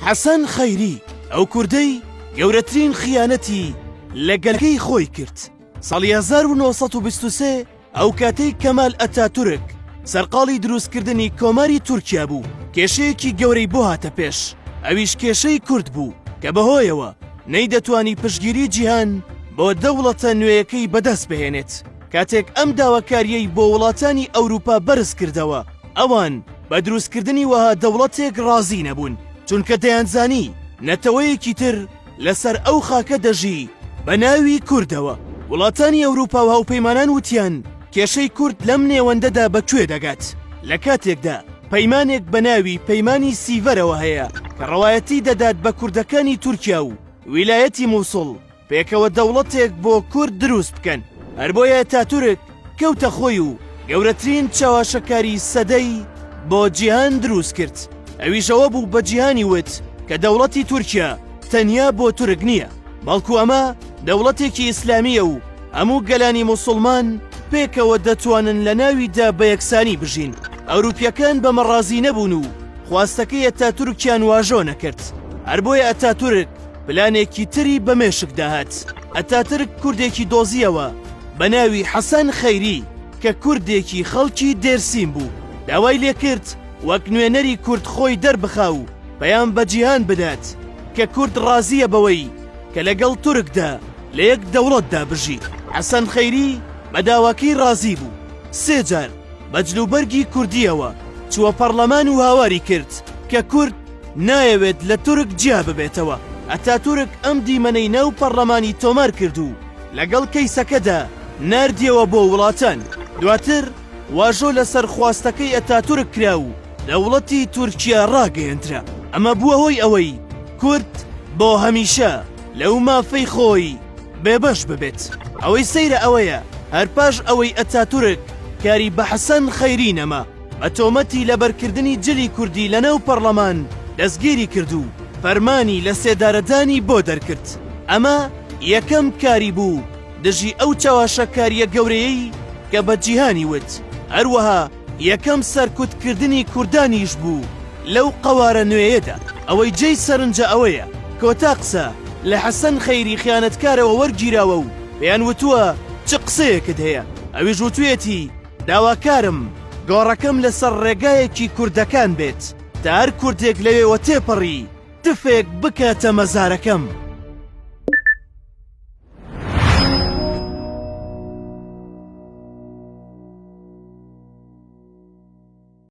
حەسەن خەیری ئەو کوردەی گەورەترین خیانەتی لە گەلەکەی خۆی کرد ساڵی 1923 ئەو کاتەی کەمال ئەتاتورک سەرقاڵی دروستکردنی کۆماری تورکیا بوو کێشەیەکی گەورەی بۆ هاتە پێش ئەویش کێشەی کورد بوو کە بەهۆیەوە نەیدەتوانی پشگیری جیهان بۆ دەوڵەتە نوێیەکەی بەدەست بهێنێت کاتێک ئەم داواکارییەی بۆ وڵاتانی ئەوروپا بەرز کردەوە، ئەوان بە دروستکردنی وەها دەوڵەتێک ڕازی نەبوون، چونکە دەیانزانی نەتەوەیەکی تر لەسەر ئەو خاکە دەژی بە ناوی کوردەوە. وڵاتانی ئەوروپا و هاوپەیمانان وتیان کێشەی کورد لەم نێوەندەدا بە کوێ دەگات، لە کاتێکدا پەیمانێک بە ناوی پەیمانی سیڤەرەوە هەیە کە ڕەوایەتی دەدات بە کوردەکانی تورکیا و ویلایەتی موسڵ، پێکەوە دەوڵەتێک بۆ کورد دروست بکەن هەربۆیە تاتورک کەوتە خۆی و گەورەترین چەواشەکاری سەدەی بۆ جیهان دروست کرد ئەویشەوە بوو بە جیهانی وت کە دەوڵەتی تورکیا تەنیا بۆ تورک نییە بەڵکو ئەمە دەوڵەتێکی ئیسلامیە و هەموو گەلانی مسلمان پێکەوە دەتوانن لە ناویدا بە یەکسانی بژین ئەوروپیەکان بە مەڕازی نەبوون و خواستەکەی ئەتا تورکیان واژۆ نەکرد هەر بۆیە ئەتا تورک پلانێکی تری بە مێشک داهات ئەتاترک کوردێکی دۆزیەوە بە ناوی حەسەن خەیری کە کوردێکی خەڵکی دێرسیم بوو داوای لێکرد وەک نوێنەری کورد خۆی دەربخا و پەیام بە جیهان بدات کە کورد ڕازیە بەوەی کە لەگەڵ تورکدا لە یەک دەوڵەتدا بژی حەسەن خەیری بە داواکەی ڕازی بوو سێ جار بە جلوبەرگی کوردیەوە چووە پەڕلەمان و هاواری کرد کە کورد نایەوێت لە تورک جیا ببێتەوە. ئەتاتورک ئەم دیمەنەی ناو پەڕلەمانی تۆمار کرد و لەگەڵ کەیسەکەدا ناردیەوە بۆ وڵاتان. دواتر واژۆ لەسەر خواستەکەی ئەتاتورک کرا و دەوڵەتی تورکیا ڕاگەیەندرا. ئەمە بووە هۆی ئەوەی کورد بۆ هەمیشە لەو مافەی خۆی بێبەش ببێت. ئەوەی سەیرە ئەوەیە هەر پاش ئەوەی ئەتاتورک کاری بە حەسەن خەیری نەما، بە تۆمەتی لەبەرکردنی جلی کوردی لەناو پەڕڵەمان دەستگیری کرد و فەرمانی لە سێدارەدانی بۆ دەرکرد. ئەمە یەکەم کاری بوو دژی ئەو چەواشەکارییە گەورەیەی کە بە جیهانی وت، هەروەها یەکەم سەرکوتکردنی کوردانیش بوو لەو قەوارە نوێیەدا. ئەوەی جێی سەرنجە ئەوەیە کۆتا قسە لە حەسەن خەیری خیانەتکارەوە وەرگیراوە و پێیان وتووە چ قسەیەکت هەیە، ئەویش وتوویەتی، داواکارم گۆڕەکەم لەسەر ڕێگایەکی کوردەکان بێت تا هەر کوردێک لەوێوە تێپەڕی تفێک بکاتە مەزارەکەم.